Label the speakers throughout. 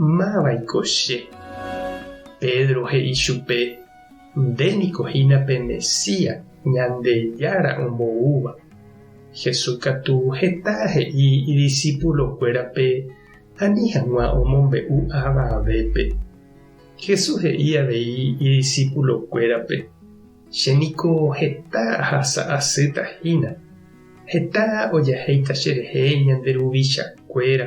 Speaker 1: Máva'iko che? Pedro he'i chupe, Nde niko hína pe Mesías, Ñandejára omboúva. Jesús katu heta he'i idisipulokuérape ani hag̃ua omombe'u avavépe. Jesús he'i avei idisipulokuérape, Che niko heta ahasa asýta hína. Heta ojahéita cherehe ñande ruvichakuéra.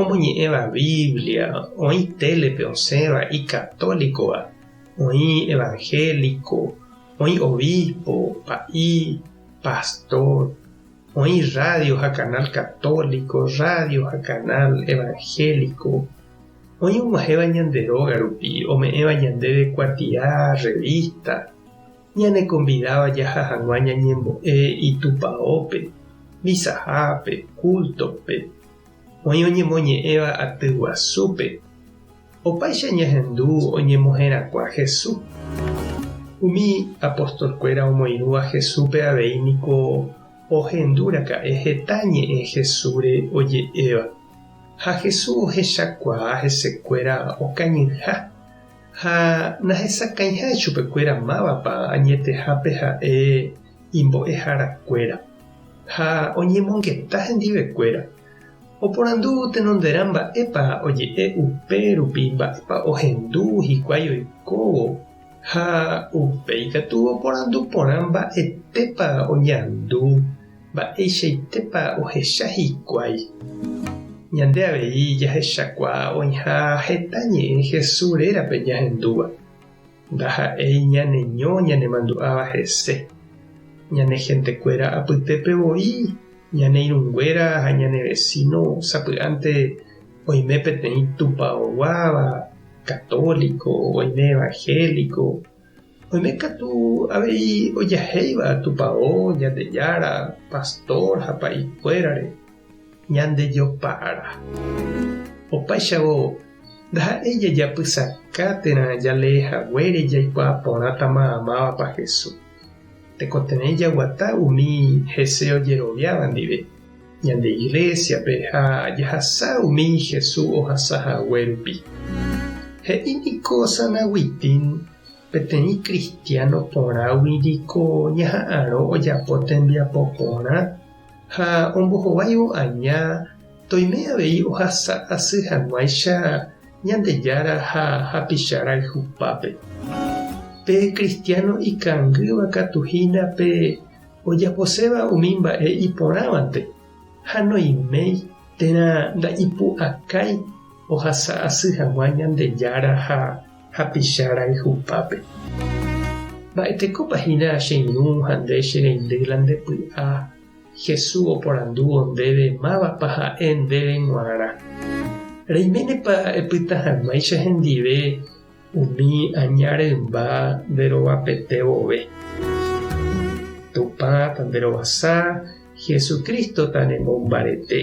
Speaker 1: omoñe'ẽva Biblia, oĩ télepe osẽva ikatólikova, oĩ evanhéliko, oĩ obispo, pa'i, pastor, oĩ rrádio ha kanál katóliko, rrádio ha kanál evanhéliko, oĩ og̃uahẽva ñande róga rupi, ome'ẽva ñandéve kuatia rrevísta, ñanekonvidáva jaha hag̃ua ñañembo'e Itupaópe, visahápe, kúltope, Oĩ oñemoñe'ẽva aty guasúpe. Opaicha ñahendu oñemoherakuã Hesu. Umi apostolkuéra omoirũva Hesúpe avei niko ohendu raka'e heta ñe'ẽ Hesúre oje'éva. Ha Hesu ohechakuaa hesekuéra okañyha ha nahesakãiha chupekuéra mávapa añetehápe ha'e imbo'eharakuéra ha oñemongeta hendivekuéra, oporandu tenonderã mba'épa oje'e upe rupi mba'épa ohendu hikuái oikóvo ha upéi katu oporandu porã mba'etépa oñandu, mba'eichaitépa ohecha hikuái. Ñande avei jahechakuaa oĩha heta ñe'ẽ Jesús rérape ñahendúva. Ndaha'éi ñaneño ñanemandu'áva hese, ñane hentekuéra apytépe voi, ñane irũnguéra ha ñane vesíno sapy'ánte oime peteĩ tupaoguáva, katóliko, oime evanhéliko, oime katu avei ojahéiva tupao, Ñandejára, pastór ha pa'ikuérare. Ñandejopa'arã. Opaichagua ndaha'éi jajapysaka térã jalee haguére jaikuaa porãtama mávapa Jesús. Tekotevẽ jaguata umi hese ojeroviáva ndive ñande Iglésiape ha jahasa umi Jesús ohasa hague rupi. He'i niko San Agustín, Peteĩ kristiáno porãgui niko ñaha'arõ ojapo tembiapo porã. ha ombohováivo aña toime avei ohasa asy hag̃uáicha Ñandejára ha hapicha rayhupápe. Pe kristiáno ikangýva katu hína pe ojaposéva umi mba'e iporãvante ha noiméi térã nda'ipu'akái ohasa asy hag̃ua Ñandejára ha hapicha rayhupápe. Mba'etekópa hína che ñu ha nde che rendy la nde py'a? Jesús oporandúvo ndéve mávapa ha'e ndéve g̃uarã. Reiménepa epyta hag̃uáicha hendive umi aña rymba nde rovapete vove? Tupã ta nde rovasa, Jesucristo ta ne mombarete.